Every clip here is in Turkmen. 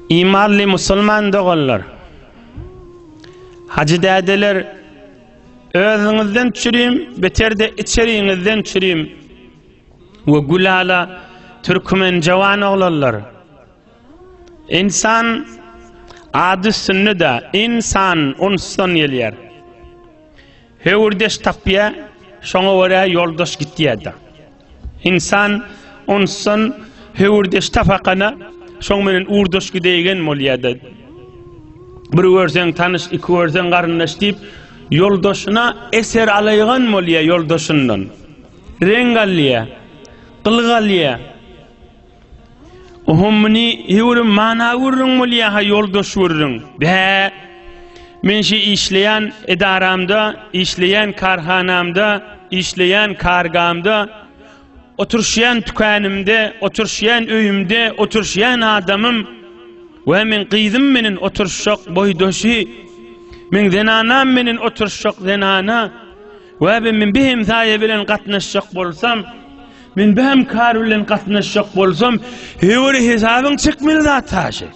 Imanly musulman doganlar, hajy dädeler, özüňizden çürim, beterde içeriňizden çürim we gülala türkmen jawan oglanlar. Insan ady üstünde-de, insan unsdan gelýär. Höwürdeş tapýa, şoňa görä ýoldaş gitýä-de. Ynsan onsan höwürdeş tapakana, şoň menen urdaş gideigen bolýa-da. Bir görseň tanyş, iki görseň garyndaş diýip, ýoldaşyna eser alaýgan bolýa ýoldaşyndan. Reň alýa, gylyk alýa. Ohum muni hewrim mana gürrüň bolýa ha ýoldaş gürrüň. Bä. Men şu işleýän edaramda, işleýän karhanamda, işleýän kargamda, oturşýan tükänimde, oturşýan öýümde, oturşýan adamym we men gyzym meniň oturşak boýdaşy. Men zenanam meniň oturşak zenana. We men bir hemsaýa bilen gatnaşjak bolsam, Men bäm kar bilen gatnaşjak bolsam, höwri hesabyň çekmeli zat haşy.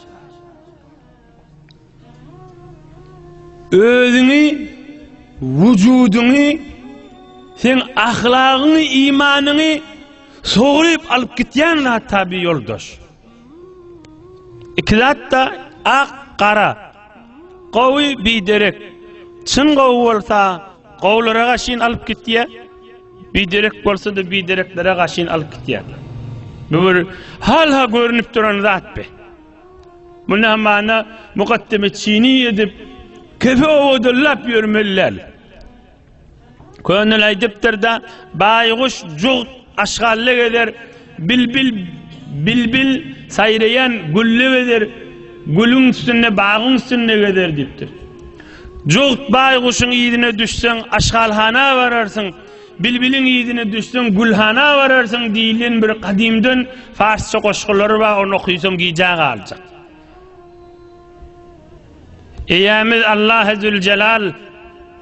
Özüňi, wujudyňy, sen ahlagyňy, imanyňy sogryp alyp gitýän zat tabi ýoldaş. Iki zatda ak gara. Gowy biderek. Çyn gowy bolsa gowlara gaşyn alyp gitýä. Biderek bolsa-da bidereklere gaşyn alyp gitýä. Bu bir halha görünip duran zat be. Munda mana mukaddeme çini edip kefe owadyllap ýörmeli däl. Könül aýdypdyr-da, Baýguş jugt aşgally gezer, bilbil bilbil saýraýan gülli gezer, gülüň üstünde, bagyň üstünde gezer diýipdir. Jugt baýguşyň yzyna düşseň, aşgalhana bararsyň, bilbiliň yzyna düşseň, gülhana bararsyň diýlen bir gadymdan farsça goşgulary bar, ony okysaň gijä galjak. Eýämiz Allahy Züljelal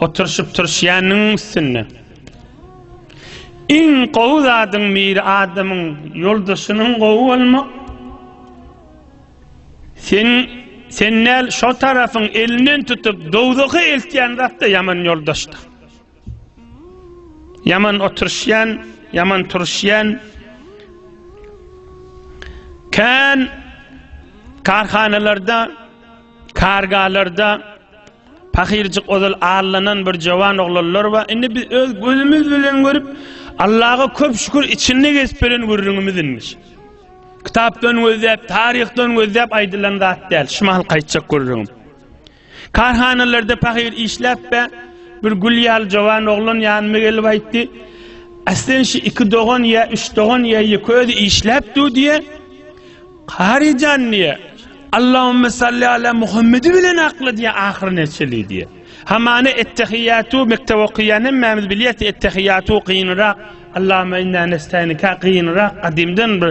Oturşyp turşýanyň üstünde. Iň gowy zadyň biri adamyň ýoldaşynyň gowy bolmak. Sen sen näl şo tarapyň elinden tutup dowzaha eltýän zatda ýaman ýoldaşdyr. Ýaman oturşýan, ýaman turşýan. Kän karhanalarda, kargalarda pahyrjyk ozal allanan bir jowan oglanlar we indi biz öz gözümiz bilen görüp Allaha köp şükür içinde geçip beren gürrüňimiz inmiş. Kitapdan gözläp, taryhdan gözläp aýdylan zat däl. Şumal gaýtjak gürrüňim. Karhanalarda pahyr işläp-ä, bir gül ýaly jowan oglan ýanyma gelip aýtdy, Aslyn şu iki dogan ýa üç dogan ýa ýeke özi işläp dur diýýä. Kary jan diýýä, Allahümme salli ala Muhammedi bilen akla diýýä ahyry neçeli diýýä. Hamana ettehiýatu mekdep okaýan hemmämiz bilýäs ettehiýatu gynrak, Allahümme inna nestaýnika gynrak gadymdan bir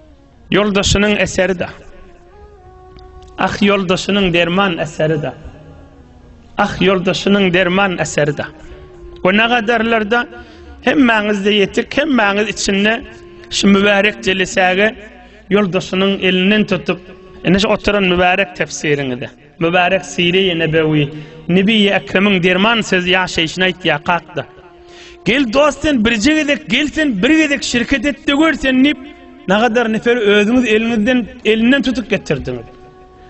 Ýoldaşynyň eseri-de. Ah ýoldaşynyň derman eseri-de. Ah ýoldaşynyň derman eseri-de. O ne gadarlarda hemmäňizde ýetik, hemmäňiz içinde şu mübärek jelisäge ýoldaşynyň elinden tutup, ene şu oturan mübärek tefsiriňize. Mübärek Syry-i Nebewi, Nebi-i Ekremiň derman sözi ýaşaýşyny aýtýar, Kakda! Gel, dost, sen birje gezek, gel, sen bir gezek şirket et-de gör sen diýip, nagadar neferi özüňiz eliňizden, elinden tutup getirdiňiz.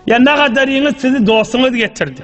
Ýa nagadaryňyz sizi dostuňyz getirdi.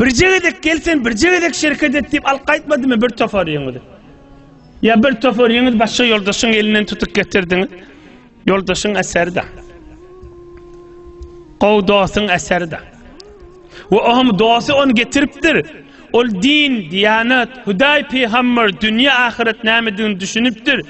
Birje gezek gel sen birje gezek şereket et diýip alyp gaýtmadymy bir tofaryňyzy? Ýa bir tofaryňyz başga ýoldaşyň elinden tutup getirdiňiz? Ýoldaşyň eseri de. Gowy dostuň eseri de. We oňam dosty ony getiripdir. Ol din, diýanat, Hudaý, pygamber, dünýä, ahyret nämedigini düşünipdir.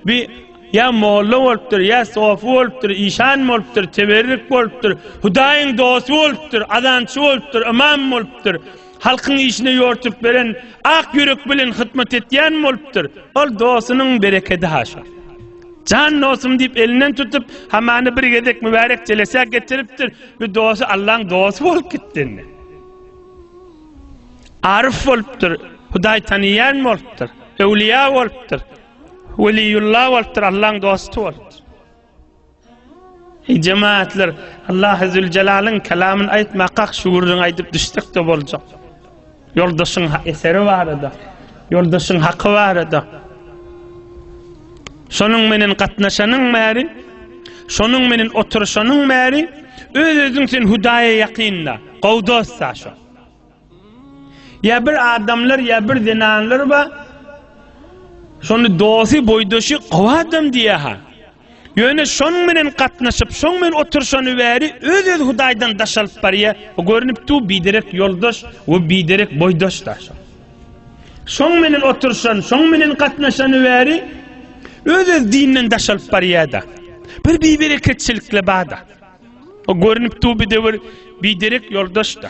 Bir Ýa molla bolupdyr, ýa sofy bolupdyr, işan bolupdyr, teberrük bolupdyr, Hudaýyň dosty bolupdyr, azançy bolupdyr, ymam bolupdyr, halkyň işine ýortup beren, ak ýürek bilen hytmat etýän bolupdyr. Ol dostunyň berekedi haşa. Jan dostum diýip elinden tutup, hamany bir gezek mübärek jelesä getiripdir, bu dosty Allaň dosty bolup gitdi indi. Aryf bolupdyr, Hudaý tanaýan bolupdyr, öwlüýä bolupdyr, Weliýulla bolupdyr, Allaň dosty bolupdyr. Eý jemaatlar, Allahy Züljelalyn kelamyn aýtmakak şu gürrüňi aýdyp düşsek-de boljak. Ýoldaşyň eseri barada, ýoldaşyň haky barada. Şonuň menen gatnaşanyň bäri, şonuň menen oturşanyň bäri öz-özüň sen Hudaýa ýakynda, gowy dostda şo. Ýa bir adamlar, ýa bir zenanlar bar. Şony dosty, boýdaşy gowy adam diýýär-ha. Ýöne şonuň bilen gatnaşyp, şonuň bilen oturşany bäri öz-öz Hudaýdan daş alyp barýar. Görnüp dur, biderek ýoldaş we biderek boýdaş-da. Şonuň bilen oturşan, şonuň bilen gatnaşany bäri öz-öz dinden daş alyp barýar-da. Bir bibereketçilikle bar-da. Görnüp dur, biderek ýoldaş-da.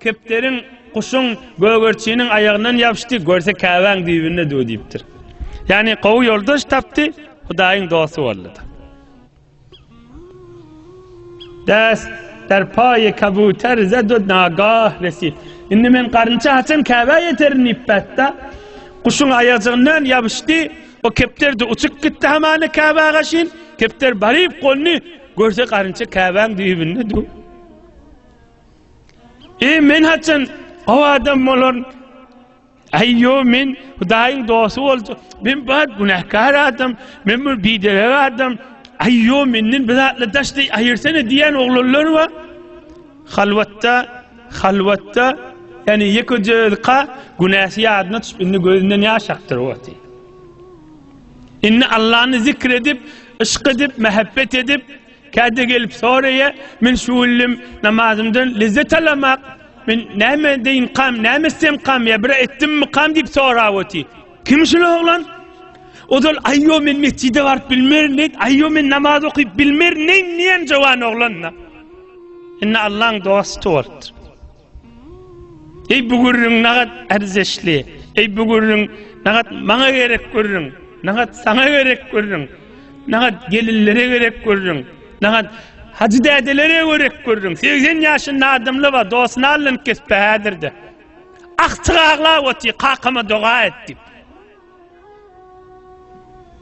Kepderiň, guşuň, gögerçiniň aýagyndan ýapyşdy, görse Käbäň düýbünde döw diýipdir. Ýagny gowy ýoldaş tapdy, Hudaýyň dosty boldy-da. Däs der paýy kabuter zedud nagah resi. Indi men garynça haçan Käbä ýeterin diýip bätda. Guşuň aýajygyndan ýapyşdy. O kepder de uçup gitdi hamany Käbä gaşyn. Kepder baryp golny görse garynça Käbäň düýbünde döw. Eý men haçan o adam bolaryn? Aý ýo men Hudaýyň dosty boljak. Men bar günäkar adam, men bir biderek adam. Aý ýo menden bir zatla daşdy aýyrsana diýen oglanlar bar. Halwatda, halwatda ýani ýekeje özka günäsi ýadyna düşüp indi gözünden ýaş akdyr wagty. Indi Allany zikr edip, yşk edip, mähebbet edip, Käte gelip soraýa, men şu günlem namazymdan lezzet alamak, men näme deýinkam, näme etsemkam ýa bir etdimmikam diýip sorap otyr. Kim şul oglan? Ozal aýo men metjide baryp bilmerin diýip, aýo men namaz okyp bilmerin diýen jowan oglan-da. Indi Allaň dosty bolupdyr. Eý bu gürrüň nagat erzeşli, eý bu gürrüň nagat maňa gerek gürrüň, nagat saňa gerek gürrüň, nagat gelinlere gerek gürrüň, nagat Hajy dädelere gerek gürrüň, segsen ýaşynda adamly bar, dosyny alynkypdy häzirde. Agtyk aglap otyr, kakama doga et diýip.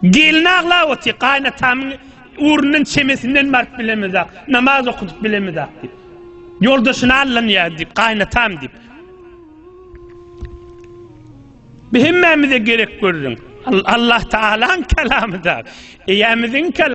Gelin aglap otyr, Gaýynatamyň ugrundan çemesinden baryp bilemizak, namaz okudyp bilemizak diýip. Ýoldaşyny allanýar diýip, gaýynatam diýip. Bu hemmämize gerek görüň. Allah Tagalaň kalamyda, eýämiziň kalamyda.